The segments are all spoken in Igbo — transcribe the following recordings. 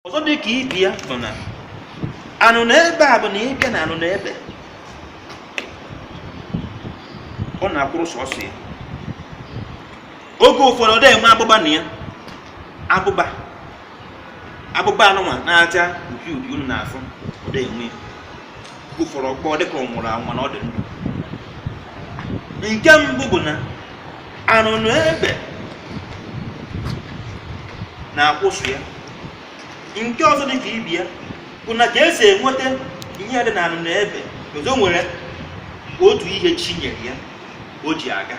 ọzọ dị ka ibe ya bụ na anụnụ ebe a bụ na ị bịa na anụnụ ebe ọ na-akwụrụ sọsọ ya oge ụfọdụ ọ dịghị enwe abụba na ya abụba abụba anụnwa na-acha uhie uhie unu na-afụ ọ dịghị enwe ya gụfọrọ ọkpọ dịka ọ nwụrụ anwụ mana ọ dị ndụ nke mbụ bụ na anụnụ ebe na-akwụ sọ ya nke ọzọ dị ka ibe ya bụ na ka esi enweta ihe dị na anụnụ ebe ọzọ nwere otu ihe chi nyere ya o ji aga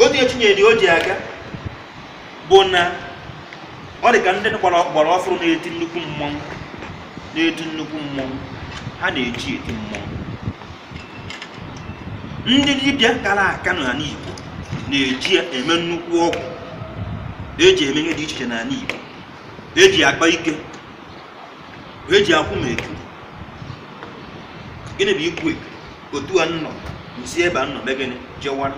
otu ihe chi nyere ya o ji aga bụ na ọ dị ka ndị gbara gbara ọfụrụ na-eti nnukwu mmọnwụ na-eti nnukwu mmọnwụ ha na-eji eti mmọnwụ ndị dibịa kara aka n'ala Igbo na-eji ya eme nnukwu ọgwụ eji eme ihe dị iche iche n'ala Igbo eji akpa ike eji akwụ ma ekiri gịnị bụ ịkwụ ekiri otu a m nọ m si ebe a m nọ mee gịnị jewara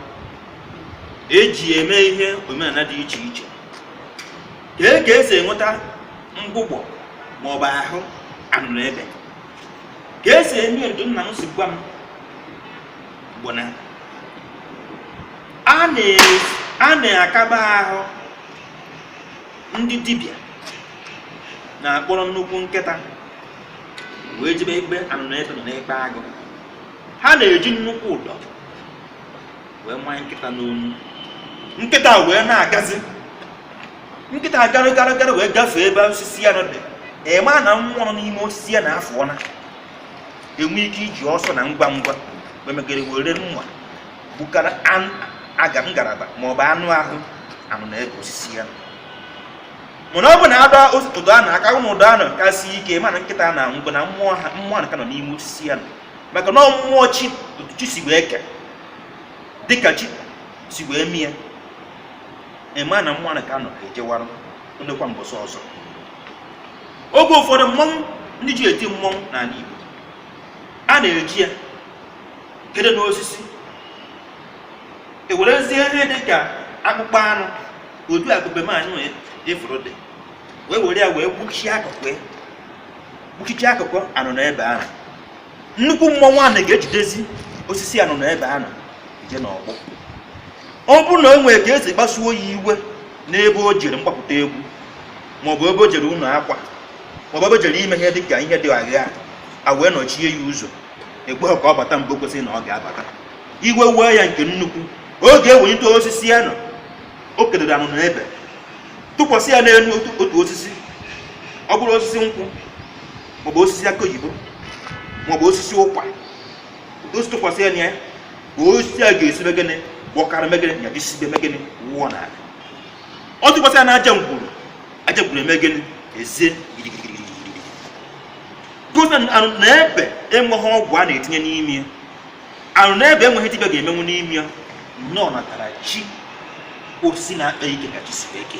eji eme ihe omenala dị iche iche ka e ka esi enweta mgbụgbọ ma ọ bụ ahụ anụnụ ebe ka esi eme etu nna m si gwa m bụ na a na- a na-akaba ahụ ndị dibịa na-akpọrọ nnukwu nkịta wee jebe ebe anụnụ ebe nọ n'ikpa agụ ha na-eji nnukwu ụdọ wee manye nkịta n'onu nkịta wee na-agazi nkịta gara gara gara wee gafee ebe osisi ya nọ dị ị ma na nwa nọ n'ime osisi ya na-afụ ọ na-enwe ike iji ọsọ na ngwa ngwa wee megere were mma gbukara an- aga ngalaba ma ọ bụ anụ ahụ anụnụ ebe osisi ya nọ mana ọ bụ na-adọ ụdọ anụ aka hụ na ụdọ anụ ka sie ike mana nkịta na ngwa na mmụọ ha mmụọ anụ ka nọ n'ime osisi ya nọ maka na mmụọ chi otu chi si wee ke dịka chi si wee mee ya ị ma na mmụọ na ka anọ ga-ejewara ndekwa mbọsị ọzọ oge ụfọdụ mmọnwụ ndị ji eti mmọnwụ n'ala Igbo a na-eji ya kedo n'osisi ewerezie ihe dị ka akpụkpọ anụ otu akụbe m anyị ifuru dị wee were ya wee gbuchie akụkụ ya uchichi akụkụ anụnụ ebe ahụ nnukwu mmọnwụ ahụ ga-ejidezi osisi anụnụ ebe ahụ je n'ọgbọ ọ bụrụ na o nwere ka e si kpasuo ya iwe n'ebe o jere mgbapụta egwu maọbụ ebe o jere ụlọ akwa maọbụ ebe o jere ime ihe dị ka ihe dị aghaa a wee nọchie ya ụzọ ekweghị ka ọ bata mgbe o kwesịrị na ọ ga-abata iwe wee ya nke nnukwu ọ ga-ewelite osisi ahụ o kedoro anụnụ ebe tụkwasị ya n'elu otu osisi ọ bụrụ osisi nkwụ maọbụ osisi akụ oyibo maọbụ osisi ụkwa ọ tụkwasị ya na ya bụ osisi a ga-esi mee gịnị gbọkara mee gịnị yarisibe mee gịnị wụọ n'ala ọ tụkwasị ya na aja ngwuru aja ngwuru emee gịnị ezie gidigidi gosi na ebe enweghị ọgwụ a na-etinye n'ime anụnụ ebe enweghị dibịa ga-emenwu n'ime ya nnọọ ọnatara chi o si na-akpa ike ka chi si eke